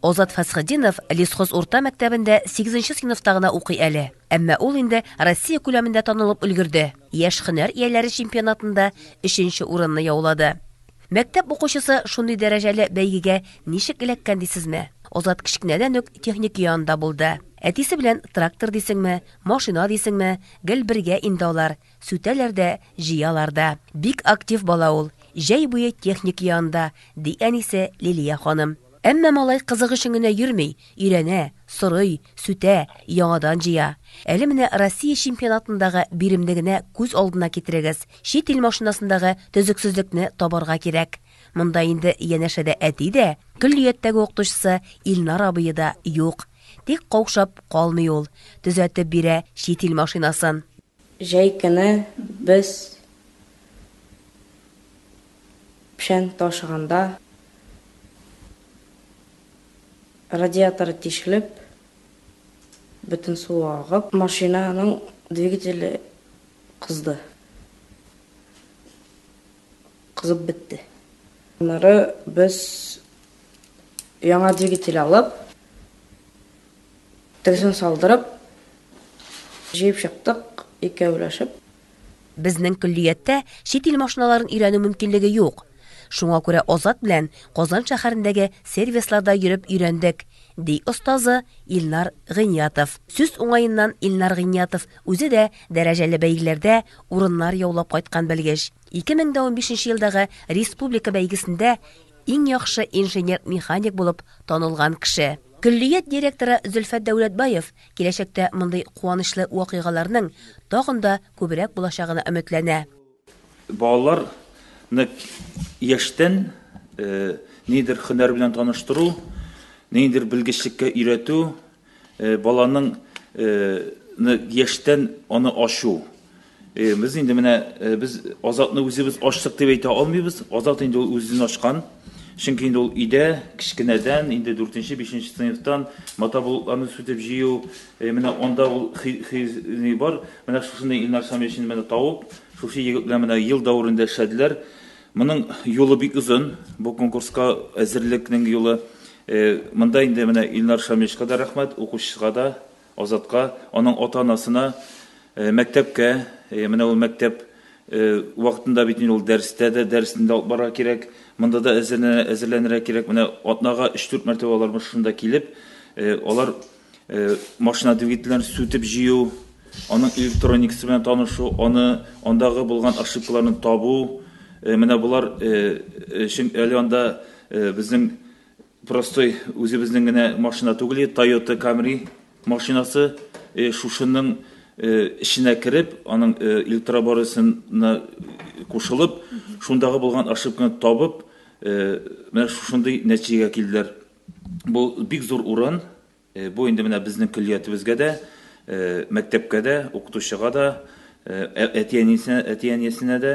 Озат Фәсхетдинов Лесхоз урта мәктәбендә 8 нче сыйныфта гына укый әле. Әмма ул инде Россия күләмендә танылып өлгерде. Яшь һөнәр ияләре чемпионатында 3 нче урынны яулады. Мәктәп укучысы шундый дәрәҗәле бәйгегә ничек эләккән дисезме? Озат кечкенәдән үк техник янында булды. Әтисе белән трактор дисеңме, машина дисеңме, гел бергә инде алар. Сүтәләр дә, җыялар да. Бик актив бала ул. Җәй буе техника янында, ди әнисе Лилия ханым. Әмма малай кызык өчен генә йөрми, өйрәнә, сорый, сүтә, яңадан җыя. Әле менә Россия чемпионатындагы биремне генә күз алдына китерегез. Чит ил машинасындагы төзексезлекне табарга кирәк. Монда инде янәшәдә әти дә, көллияттәге укытучысы Илнар абые да юк. Тик каушап калмый ул, төзәтеп бирә чит ил машинасын. Җәй көне без печән ташыганда, радиатор тишелеп, бөтен су агып, машинаның двигателе кызды. Кызып бетте. Аннары без яңа двигатель алып, Төзен салдырып, җыеп чыктык икәүләшеп. Безнең көллияттә чит ил машиналарын өйрәнү мөмкинлеге юк. Шуңа күрә Азат белән Казан шәһәрендәге сервисларда йөреп өйрәндек, ди остазы Илнар Гыйниятов. Сүз уңаеннан, Илнар Гыйниятов үзе дә дәрәҗәле бәйгеләрдә урыннар яулап кайткан белгеч. 2015 нче елдагы республика бәйгесендә Иң яхшы инженер-механик булып танылган кеше. Көллият директоры Зөлфәт Дәүләтбаев киләчәктә мондый куанычлы вакыйгаларның тагын да күбрәк булачагына өметләнә. Балалар ны яшьтән нидер хөнәр белән таныштыру, ниндидер белгечлеккә өйрәтү, Баланың яшьтән аны ачу. Без инде менә без Азатны үзебез ачтык дип әйтә алмыйбыз. Азат инде ул үзен ачкан. Чөнки инде ул өйдә кечкенәдән, инде 4 5 сыйныфтан мотоблокларны сүтеп җыю, менә анда ул хи бар. Менә шушында Илнар Шамилшин менә тавып, шушы егет белән менә ел дәверендә эшләделәр. Моның юлы бик озын, бу конкурска әзерлекнең юлы. Монда инде менә Илнар Шамилевичка да рәхмәт, укучыга да, Азатка, аның ата-анасына, мәктәпкә, менә ул мәктәп вакытында бит инде ул дәрестә дә, дәресен дә алып барырга кирәк, монда да әзерләнә, әзерләнергә кирәк. Менә атнага өч-дүрт мәртәбә алар шунда килеп, алар машина двигательләрен сүтеп җыю, аның электроникасы белән танышу, аны андагы булган ошибкаларны табу, менә болар өчен әле анда безнең простой үзебезнең генә машина түгел, Toyota Camry машинасы шушының эченә кереп, аның электроборысына кушылып, шундагы булган ошибканы табып, менә шушындый нәтиҗәгә килделәр. Бу бик зур урын. Бу инде менә безнең көллиятебезгә дә, мәктәпкә дә, укытучыга да, әти-әнисенә, әти-әниясенә дә.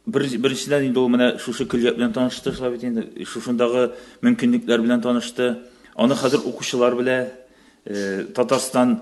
Беренчедән инде ул менә шушы көллият белән танышты шулай бит инде. Шушындагы мөмкинлекләр белән танышты. Аны хәзер укучылар белә. Татарстан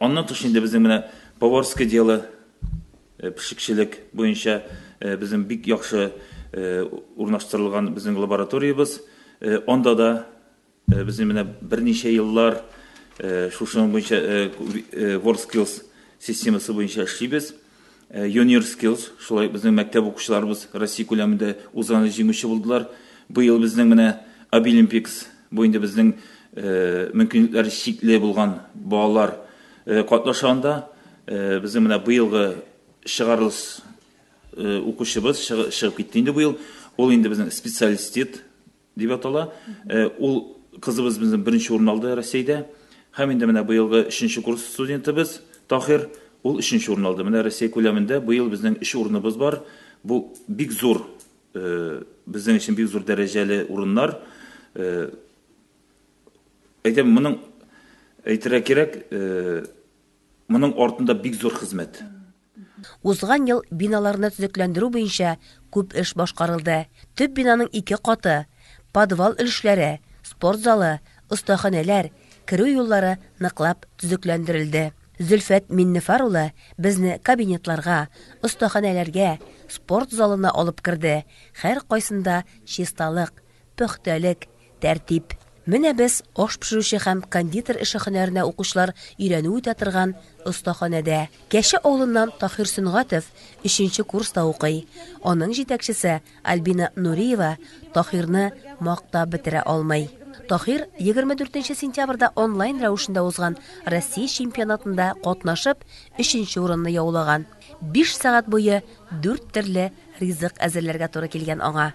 Аннан тыш инде безнең менә поварское дело, пешекчелек буенча безнең бик яхшы урнаштырылган безнең лабораториябез. Анда да безнең менә берничә еллар шушының буенча WorldSkills системасы буенча эшлибез. Юниорскилс, шулай ук безнең мәктәп укучыларыбыз Россия күләмендә узганда җиңүче булдылар. Быел безнең менә Обилимпикс, бу инде безнең мөмкинлекләре чикле булган балалар катнаша анда. Безнең менә быелгы чыгарылыш укучыбыз чыгып китте инде быел. Ул инде безнең специалистит, Дип атала. Ул кызыбыз безнең беренче урын алды Россиядә. Һәм инде менә быелгы өченче курс студентыбыз Таһир, ул өченче урын алды. Менә Россия күләмендә быел безнең өч урыныбыз бар. Бу бик зур, безнең өчен бик зур дәрәҗәле урыннар. Әйтәм, моның әйтергә кирәк, моның артында бик зур хезмәт. Узган ел биналарны төзекләндерү буенча күп эш башкарылды. Төп бинаның ике каты, подвал өлешләре, спорт залы, остаханәләр, керү юллары ныклап төзекләндерелде. Зөлфәт Миннефар улы безне кабинетларга, остаханәләргә, спорт залына алып керде, һәркайсында чисталык, пөхтәлек, Тәртип. Менә без аш пешерүче һәм кондитер эше хөнәренә укучылар өйрәнү үтә торган остаханәдә. Кәче авылыннан Таһир Сөнгатов өченче курста укый. Аның җитәкчесе Альбина Нуриева Таһирны мактап бетерә алмый. Таһир 24 сентябрьдә онлайн рәвешендә узган Россия чемпионатында катнашып, өченче урынны яулаган. Биш сәгать буе дүрт төрле ризык әзерләргә туры килгән аңа.